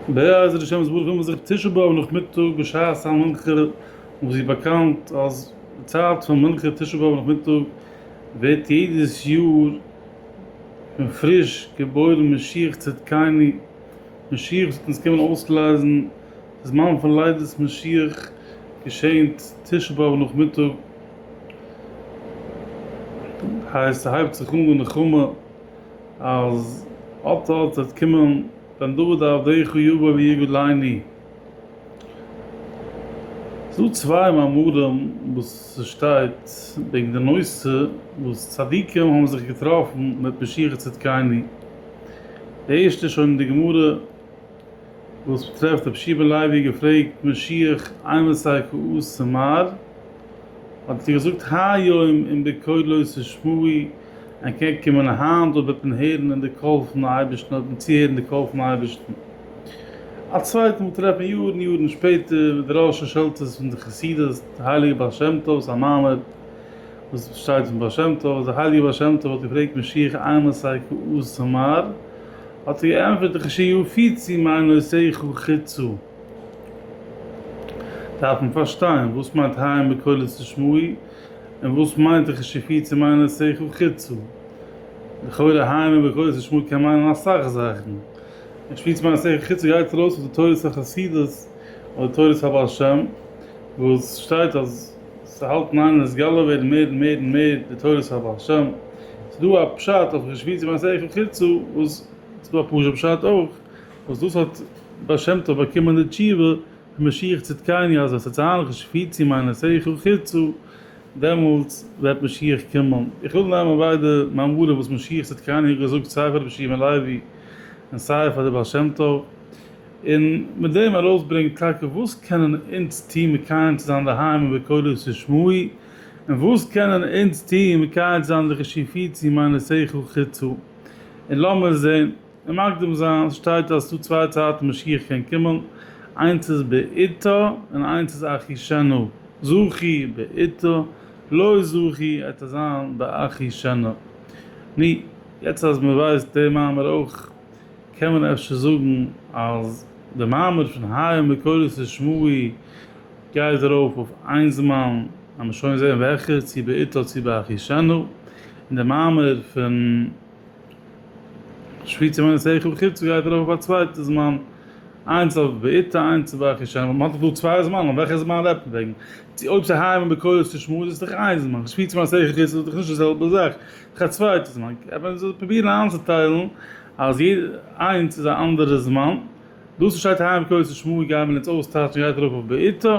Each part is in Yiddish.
בעזר השם יתברך וועט מען זיך תשעה באב נאכמיטאג בשעת המנחה וואס ווי באקאנט אז די צייט פון מנחה תשעה באב נאכמיטאג ווערט יעדעס יאר פון פריש געבוירן משיח צדקינו משיח וואס וועט אונז קומען אויסלייזן די זמן פון לידת משיח געשענט תשעה באב נאכמיטאג הייסט ס'הייבט זיך אן די נחמה אז אט אט וועט קומען בן דוד עבדיך יבא ויגד לעיני. ס'איז דא צוויי מאמרים וואס ס'שטייט וועגן די נושא וואס צדיקים האבן זיך געטראפן מיט משיחי צדקינו. די ערשטע איז שוין אין די גמרא וואס מ'טרעפט רבי שמעון לוי געפרעגט משיח אימתי כעוס צו מר. האט ער געזאגט היום אם בקולו תשמעי. אנטקעגן קומען היינט דאס בעט מען הערן אין די קול פון די אייבערשטן אויף דעם צוהערן די קול פון אייבערשטן א צווייטע מאל טרעפן יארן יארן שפעטער ווי די ראשי שלטעס פון די חסידות די הייליגע בעל שם טוב'ס א מאמר וואס שטייט פון בעל שם טוב אז די הייליגע בעל שם טוב האט געפרעגט משיח איין עשה כ א זמר האט ער געענטפערט וכ ש יהיו פיצי מיין עושי כ א חיצו דארף מען פארשטיין וואס מיינט ה' בקולו תשמעו. און וואס מיינט איך נישט כפי צו מיינען שכל חיצו? לכאורה היינו בכוס השמועה קען מיינען אסאך זאכן. און כפי צו מיינען שכל חיצו גייט ארויס אויף די תורת החסידות אדער תורת הבעל שם וואס שטייט אז ס'האלט אין איין נתגלה ווערן מער און מער און מער די תורת הבעל שם. ס'דא א פשט אויף כפי צו מיינען שכל חיצו וואס ס'דא א פשוט פשט אויך וואס דאס האט בעל שם טוב באקומען די תשובה משיח צדקני אז עס איז צו היילכן שפיץ צו מיינע שכל חיצו דעמאלטס וועט משיח קומען. איך וויל נעמען ביידע מאמרים וואס משיח צדקני האט געזאגט סיי פאר רבי שמעון לעווי און סיי פאר די בעל שם טוב און מיט דעם ארויסברענגען טאקע וואס קענען אונז טון מקיים צו זיין דהיינו בקולו של שמו ע און וואס קענען אונז טון מקיים צו זיין די שפיץ צו מיינע שכל חיצו און לאמיר זען און מקדים זיין שטייט אז ס'דא צוויי צייטן משיח קען קומען, איינס איז בעתו און איינס איז אחי שנא, זכי בעתו, לא זכי עתה עס זיין באחי שנא. נו, יעצט אז מ'ווייסט די מאמר אויך, קען מען אפשר זאגן אז די מאמר פון היה מקורות לשמואי גייט ארויף אויף איין זמן, לאמיר שוין זען וועלכע, צו בעתו צו באחי שנא, און די מאמר פון. שפיצער מיינע שכל חוץ גייט ער אויף א צווייטע זמן איינס אויף בעיטה איינס אויף ואכי שעי' מ'האט דאך דא צוויי זמנים וועלכע זמן רעדט מען וועגן צו אויב ס'היים און בכולל צו שמועס איז דאך איין זמן שפיצער מיינע שכל חוץ איז דאך נישט די זעלבע זאך דאך א צווייטע זמן קען מען זיך פרובירן איינצוטיילן אז יעדע איינס איז א אנדערע זמן דאס וואס שטייט היים און בכולל צו שמועס גייען מיר אונז אויסטייטשן גייט ארויף אויף בעיטה.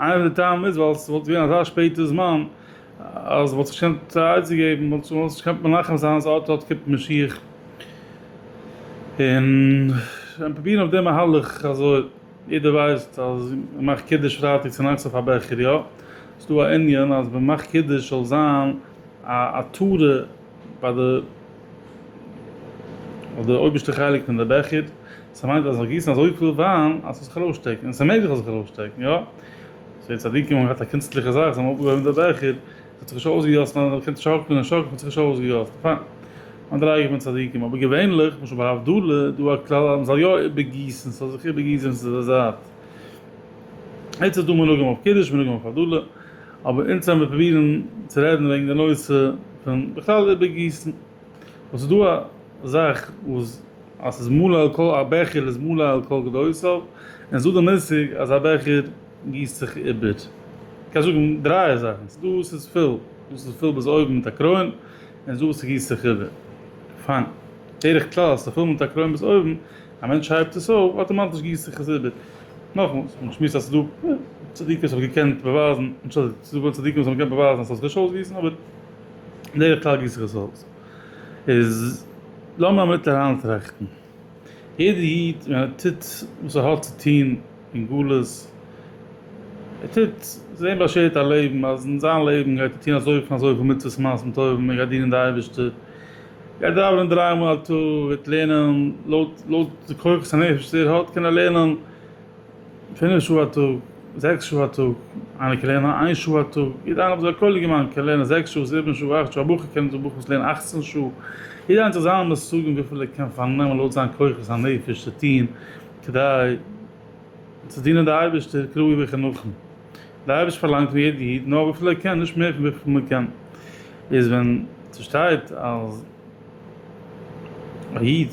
איינער פון די טעמים איז ווייל עס וואלט געווען אזא שפעטע זמן אז מ'וואלט זיך נישט געקענט עצה געבן, מ'וואלט זיך נישט געקענט מנחם זיין אז אט אט קומט משיח און ווען פרובירן אויף די מהלך אזוי, יעדער ווייסט אז מ'מאכט קידוש פרייטאג צונאכטס אויף א בעכער, יא? ס'דא א ענין אז מ'מאכט קידוש זאל זיין א התרה. ביי די אויף די אויבערשטע חלק פון די בעכער, ס'האט מיינט אז זיך גיסן אזויפיל וויין אז ס'וועט זיך ארויסשטעקן, און ס'מעג זיך אז זיך ארויסשטעקן, יא? סאו די צדיקים האבן געהאט א קונצליכע זאך, זיי האבן אויפגעהויבן די בעכער, ס'האט זיך נישט אויסגעגאסן, ווייל מען קען שאקלען און שאקלען, ס'האט זיך נישט אויסגעגאסן, פיין, מדריגה פון צדיקים, אבער געווענליך, למשל ביי הבדלה, איז דא א כלל אז מ'זאל יא איבערגיסן, ס'זאל זיך איבערגיסן צו די זייט. יעצט איז דא מנהגים אויף קידוש, מנהגים אויף הבדלה. אבער אונז העמיר פרובירן צו רעדן וועגן די נושא פון בכלל איבערגיסן, וואס ס'דא א זאך וואס אז ס'איז מלא על כל א בעכער איז מלא על כל גדותיו, און ס'דא די מושג אז א בעכער גיסט זיך איבער, מ'קען זאגן דרײַ זאכן, ס'דא וואס איז פול, דא ס'איז פול ביז אויבן מיט א קרוין, און ס'דא וואס ס'גיסט זיך איבער, פיין, בדרך כלל אז ס'איז פול מיט א קרוין ביז אויבן, א מענטש הייבט עס אויף, אטאמאטיש גיסט זיך עס איבער. נאכמאל, מען שמועסט אז ס'דא צדיקים וואס האבן געקענט באווייזן, אנטשולדיגט, ס'דא גאר צדיקים וואס האבן געקענט באווייזן אז ס'זאל זיך נישט אויסגיסן, אבער בדרך כלל גיסט זיך עס אויס. איז לאמיר א מינוט אריינטראכטן. יעדער איד ווען ער טוט וואס ער האט צו טון אין גלות, ער טוט, ס'איז אים באשערט א לעבן, אז אין זיין לעבן גייט ער טון אזויפיל און אזויפיל מצוות מעשים טובים, ער גייט דינען די אייבערשטער, גייט דאווענען דריי מאל א טאג, וועט לערנען לויט לויט די כוחות הנפש וואס ער האט, קען ער לערנען פינף שעה א טאג, זעקס שעה א טאג, איינער קען לערנען איין שעה א טאג, יעדער איינער אזוי א קאליגע מיינע קען לערנען זעקס שעה, זיבן שעה, אכט שעה, א בחור קען זיך דורך וואס לערנען אכצן שעה, יעדער איינער האט זיך זיינע מושגים וויפיל ער קען פארנעמען לויט זיין כוחות הנפש צו טון כדי צו דינען די אייבערשטער כראוי וכנכון. דער אייבערשטער פארלאנגט פון יעדע איד נאר וויפיל ער קען, נישט מער פון וויפיל מען קען, איז ווען ס'שטייט אז א איד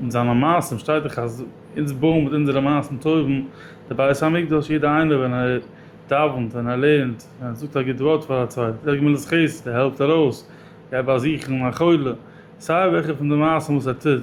מיט זיינע מעשים, שטייט דאך אז אונז בויען מיט אונזערע מעשים טובים די בית המקדש, יעדער איינער ווען ער דאווענט, ווען ער לערנט, ווען ער זאגט א גוט ווארט פאר א צווייטן, ער גמילות חסד, ער העלפט ארויס, גייט באזוכן א חולה, סיי וועלכע פון די מעשים וואס ער טוט,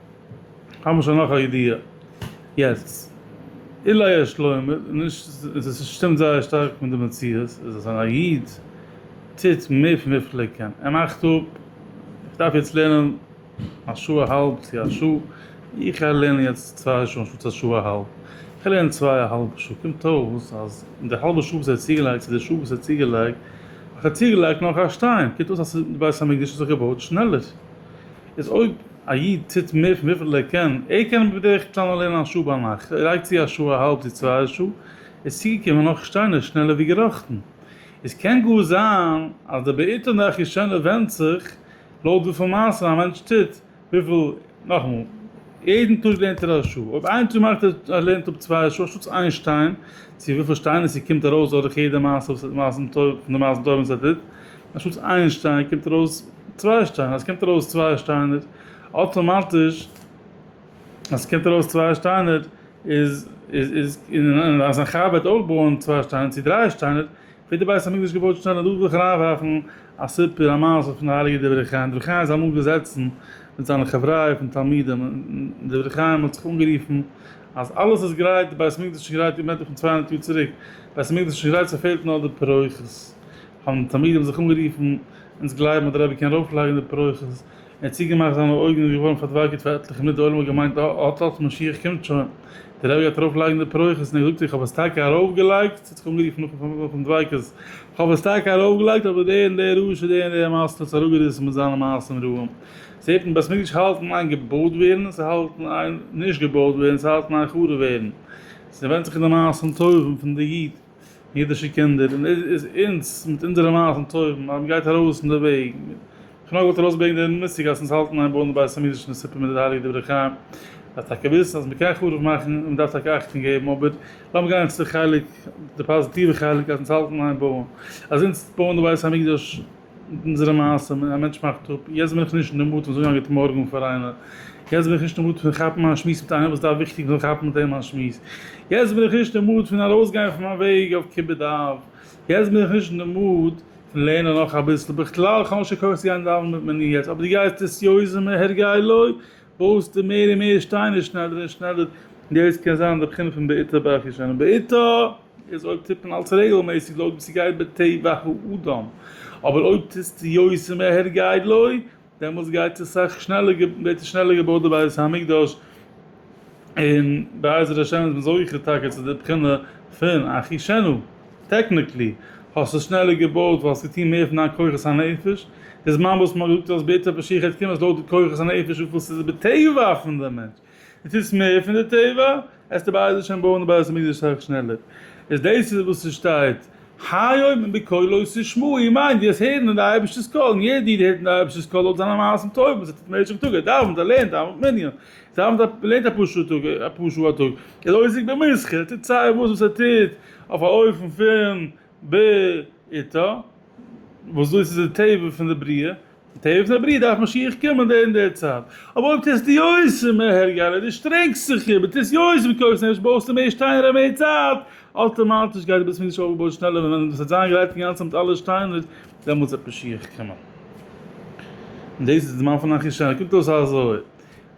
האמיר שוין נאך א ידיעה יעצט. אילאי א שלוימער איז נישט, און עס שטימט זייער שטארק מיט די מציאות, איז אז ווען א איד טוט מער פון וויפיל ער קען, ער מאכט אפ, איך דארף יעצט לערנען א שעה א האלב צו א שעה, איך גיי לערנען יעצט צוויי שעה אנשטאטס א שעה א האלב, איך לערן צוויי א האלבע שעה, קומט אויס אז אין די האלבע שעה וואס ער האט צוגעלייגט צו די שעה וואס ער האט צוגעלייגט, האט ער צוגעלייגט נאך א שטיין, קומט אויס אז די בית המקדש האט זיך געבויט שנעלער. איז אויב א איד טוט מער פון וויפיל ער קען, ער קען בדרך כלל נאר לערנען א שעה ביינאכט, ער לייגט צו א שעה א האלב צו צוויי שעה, איז צוגעקומען נאך שטיינער שנעלער ווי געראכטן. עס קען גאר זיין אז די בעיטה און די אחישנה ווענדט זיך לויט וויפיל מעשים א מענטש טוט, וויפיל, נאכאמאל, יעדן טאג לערנט ער א שעה, אויב איין טאג מאכט ער אז ער לערנט אפ צוויי שעה אנשטאטס איין שטיין, צו וויפיל שטיינער ס'קומט ארויס דורך יעדע מעשה וואס מעשים טובים, פון די מעשים טובים וואס ער טוט, אנשטאטס איין שטיין קומט ארויס צוויי שטיינער, אז ס'קומט ארויס צוויי שטיינער אטאמאטיש, אז ס'קומט ארויס צוויי שטיינער איז איז און אז א חב ד וועט אויך בויען צוויי שטיינער צו דריי שטיינער ווערט די בית המקדש געבויט שנעל, און דא וויל איך אריינווארפן א סיפור א מעשה פון די הייליגע דברי חיים, דברי חיים איז אמאל געזעצן מיט זיינע חבריא פון תלמידים און דברי חיים האט זיך אנגערופן אז אלעס איז גרייט, די בית המקדש איז שוין גרייט, איר מיינט דאך פון צוויי הונדערט יאר צוריק, בית המקדש איז שוין גרייט ס'פעלט נאר די פירות. האבן תלמידים זיך אנגערופן, אונז גלייבן אז דער רבי קען ארויפלייגן די פרויכעס, ער האט צוגעמאכט זיינע אויגן און געווארן פארדווייגערט פאר עטליכע מינוט, די עולם האט געמיינט אט אט משיח קומט שוין, דער רבי גייט ארויפלייגן די פרויכעס און ער זאגט איך האב עס טאקע ארויפגעלייגט, עס האט זיך אנגערופן נאכן דביקות, איך האב עס טאקע ארויפגעלייגט אבער דער און דער רשע, דער און דער מאסטער האט עס אראפגעריסן מיט זיינע מעשים רעים, עס העט אין בית מקדש האלטן איין געבויט ווערן, עס האלט איין נישט געבויט ווערן, עס האלט איין חרוב ווערן, עס ווענדט זיך אין די מעשים טובים פון די איד. אידישע קינדער און אונז מיט אונזערע נייעס און טובים אז מ'גייט ארויס אין די וועג, איך נאר וואלט ארויס געברענגט די מושג אז אונז האלטן איין בויען די בית המקדש און די סופה מיט די הייליגע דברי חיים, אז טאקע וויסן אז מ'קען חרוב מאכן און מ'דארף טאקע אכטונג געבן אבער לאמיר גיין צו חלק די פאזיטיווע חלק אז אונז האלטן איין בויען אז אונז בויען די בית המקדש. מיט אונזערע מעשים, א מענטש מאכט אפ, יעצט בין איך נישט אין די מוד פון זאגן א גוט מארגן פאר איינער, יעצט בין איך נישט אין די מוד פון כאפן א שמועס מיט איינעם וואס דארף וויכטיג זאל כאפן מיט אים א שמועס, יעצט בין איך נישט אין מוד פון ארויסגיין פון מיין וועג אויף כיבוד אב, יעצט בין איך נישט אין די מוד פון לערנען נאך אביסל, בכלל איך האב נישט קיין כח צו גיין דאווענען מיט מנין יעצט, אבער דו גייסט עס יוזם מהר גאי לוי, בויסטו מער און מער שטיינער שנעלער און שנעלער, דאס קען זיין די בחינה פון בעיטה באש ישנה בעיטה. איז אויב טוט מען אלס רעגלמעסיג לויט ווי ס'גייט בטבע האדם, אבער אויב טוסטו יותר מהר גייט לוי, דעמאלס גייט עס סאך שנעלער ווערט עס שנעלער געבויט די בית המקדש, און בעזר השם איז מען זוכה טאקע צו די בחינה פון אחישנו, טעקניקלי האסטו עס שנעלער געבויט ווייל האסט געטון מער פון דיין כוחות הנפש, די זמן וואס מ'האט געזאגט אז בעתו פשיחא תקום איז לויט די כוחות הנפש וויפיל ס'איז בטבע פון די מענטש. די טוסט מער פון די טבע, העסטו בעז השם בויען די בית המקדש אסאך שנעלער. איז דאס איז וואס ס'שטייט היום און בקולו תשמעו איר מיינט דאס הערן אין די אייבערשטער'ס קול און יעדער איד הערט אין די אייבערשטער'ס קול לויט זיינע מעשים טובים וואס ער טוט במשך טאג ער דאווענט ער לערנט ער האבענט מנין ער דאווענט א ער לערנט אפאר שעה טאג אפאר שעה א טאג ער איז עוסק במסחר ער טוט סיי וואס וואס ער טוט אויף א אופן פון בעיתו וואס דאס איז די טבע פון די בריאה. תיכף נאך ברי' דארף משיח קומען דער אין דער צייט, אבער אויב טוסטו יוצא מהר י אלא דו שטרענגסט זיך און טוסט יוצא בכוחות נפש בויסטו מער שטיינער און מער צייט, אויטאמאטיש גייט דער בית המקדש אויפגעבויט שנעלער און ווען עס וועט זיין גרייט אינגאנצן מיט אלע שטיינער דעמאלטס וועט משיח קומען. און דאס איז די זמן פון אחישר, קוקט אויס אזוי.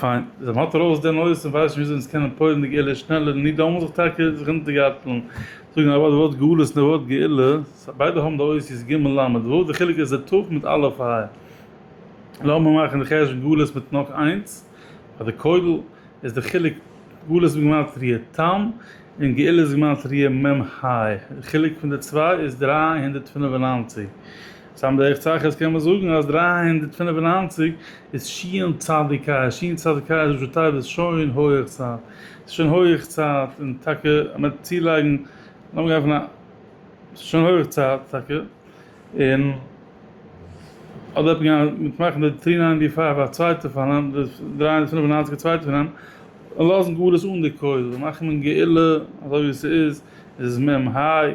פיין, זיי האט ארויס די נוירס און ווייסט שוין וויאזוי אונז קענען פועל'ן די גאולה שנעלער, ניט דאמאלס זיך טאקע זיך אונטערגארטלן, זאגן א ווארט די ווארט גאולה און די ווארט גאולה, ס ה ביידע האבן די אותיות ג' ל' וואו, די חילוק איז די ת' מיט א' ע ה, לאמיר מאכן די חשבון גאולה מיט נאך איינס, ביי די כולל איז די חילוק גאולה איז בגימטריא ת ם און גאולה איז בגימטריא מ ה, די חילוק פון די צוויי איז דרײַ הונדערט פֿינף און נײַנציק. סתם דרך צחות קען מען זאגן אז דרײַ הונדערט פֿינף און נײַנציק איז שיען צדיקיא, שיען צדיקיא איז ראשי תיבות שוין הויעך צייט, ס'איז שוין הויעך צייט, און טאקע מ'וועט צולייגן, לאמיר גיין פון א, ס'איז שוין הויעך צייט טאקע, און אדער וועט מען גיין מיט מאכן די טרי ניינטי פייוו א צווייטע פארנעם, די דרײַ הונדערט פֿינף און נײַנציק א צווייטע פארנעם, און לאזן גאר עס אן די כולל, מאכן מעין גאולה אזוי ווי ס'איז, איז עס מ מ היי.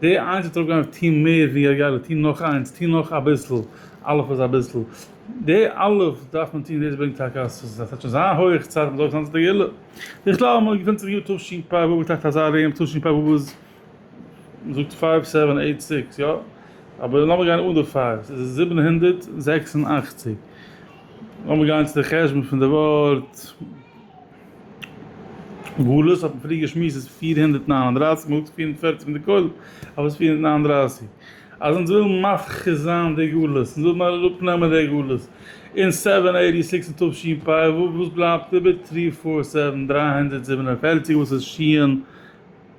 די איינס וועט אראפגיין אויף טוהן מער ווי א יעלה, טוהן נאך איינס, טוהן נאך אביסל, אלף איז אביסל, די אלף דארף מען טוהן, דאס ברענגט טאקע אז עס וועט שוין זיין הויעך צייט מען זאל אויפסטאנען צו די יעלה, בכלל מען געפונט זיך יאר תשפ א וואו איז טאקע אזא ארום תשפ א וואו איז מען זאגט פייוו סעווען עיט סיקס יא, אבער לאמיר גיין אן די פייוו, עס איז זיבן הונדערט זעקס און אַכציק, לאמיר גיין צו די חשבון פון די ווארט. גלות האט מען פריער געשמועסט איז פֿיר הונדערט נײַן און דרײַסיק מאל פֿיר און פֿערציק פון די כולל אויף איז פֿיר הונדערט נײַן און דרײַסיק אז אונז ווילן מפחית זיין די גלות אונז ווילן אראפ נעמען די גלות אין סעווען עיטי סיקס און תשי פ ו וואס בלייבט איבער טרי פאר סעווען דרײַ הונדערט זיבן און פֿערציק וואס איז שיען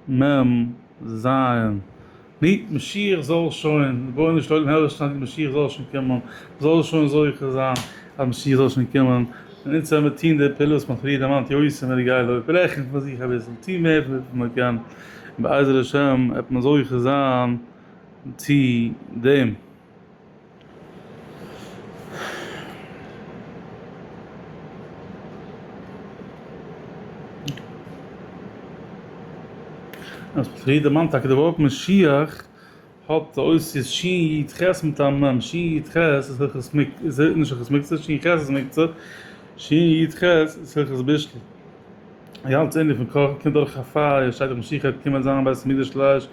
מ ז. ני, משיח זאָל שוין, רבונו של עולם, הער שוין, די משיח זאָל שוין קומען, זאָל שוין זוכה זיין, אַז משיח זאָל שוין קומען, און אונדז וועמיר טאָן די פעולות, וואָס מ'האָט פריער דערמאַנט, יוסף און ר' געלע, אויפרעכענט פון זיך אַביסל, טאָן מער פון וויפיל מען קען, און בעזר השם וועט מען זוכה זיין צו דעם. פריעדמאן טאקע דערווארפן משיח האט די אותיות ש י ח מיטן מ ם, ש י ח איז היכות מוקצה, ש י ח איז מוקצה, ש י ח איז היכות בישול. די גאנצע ענין פון קאכן קומט דורך א פייער, שטייט דאך משיח העט קומען זיין בית המקדש לש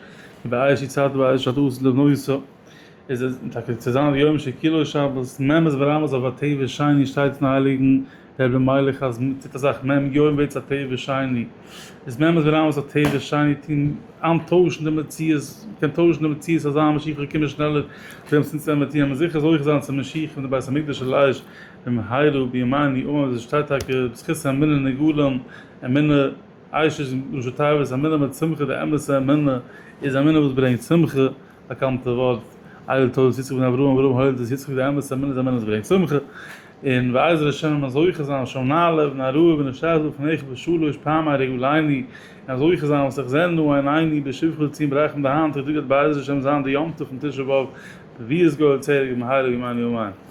י באש יצהר ת באש ת עשה לבנו ישרף. איז עס טאקע צו זיין די יום שכולו שבת, מ' איז ברמז אויף א ט' ושני, שטייט אין הייליגן רבי מיילעך אז מען טוט אזאך מ' יום ווערט עס א ט' ושני, איז מ' איז ברמז אויף ט' ושני טון אן טוישן די מציאות, מען קען טוישן די מציאות אזא משיח זאל קומען שנעלער, דעם צו אונז עמער טוען מיר זיכער זוכה זיין צום משיח פון די בית המקדש של אש במהרה בימינו אמן, ווי עס שטייט טאקע בזכות האמונה נגאלין, אמונה עיישת ראשי תיבות אמונה מיט שמחה, די אמת'ע אמונה איז אמונה וואס ברענגט שמחה. באקאנטע ווארט איידער טויט איז יצחק בן אברהם אברהם הוילט איז יצחק די אמת אמת אמת אמת ברענגט שמחה און בעזר השם ווען מען זוכה זיין שם נעלה ונראה ונשתחוה לפניך בשלוש פעמי רגליני און זוכה זיין וואס איך זעה נא אין עיני בשבחו לציון ברחמים די היינטיגע טאג וועט בעזר השם זיין די יום טוב פון תשעה באב רביעית גואל צעיר געבן מהרה בימינו אמן.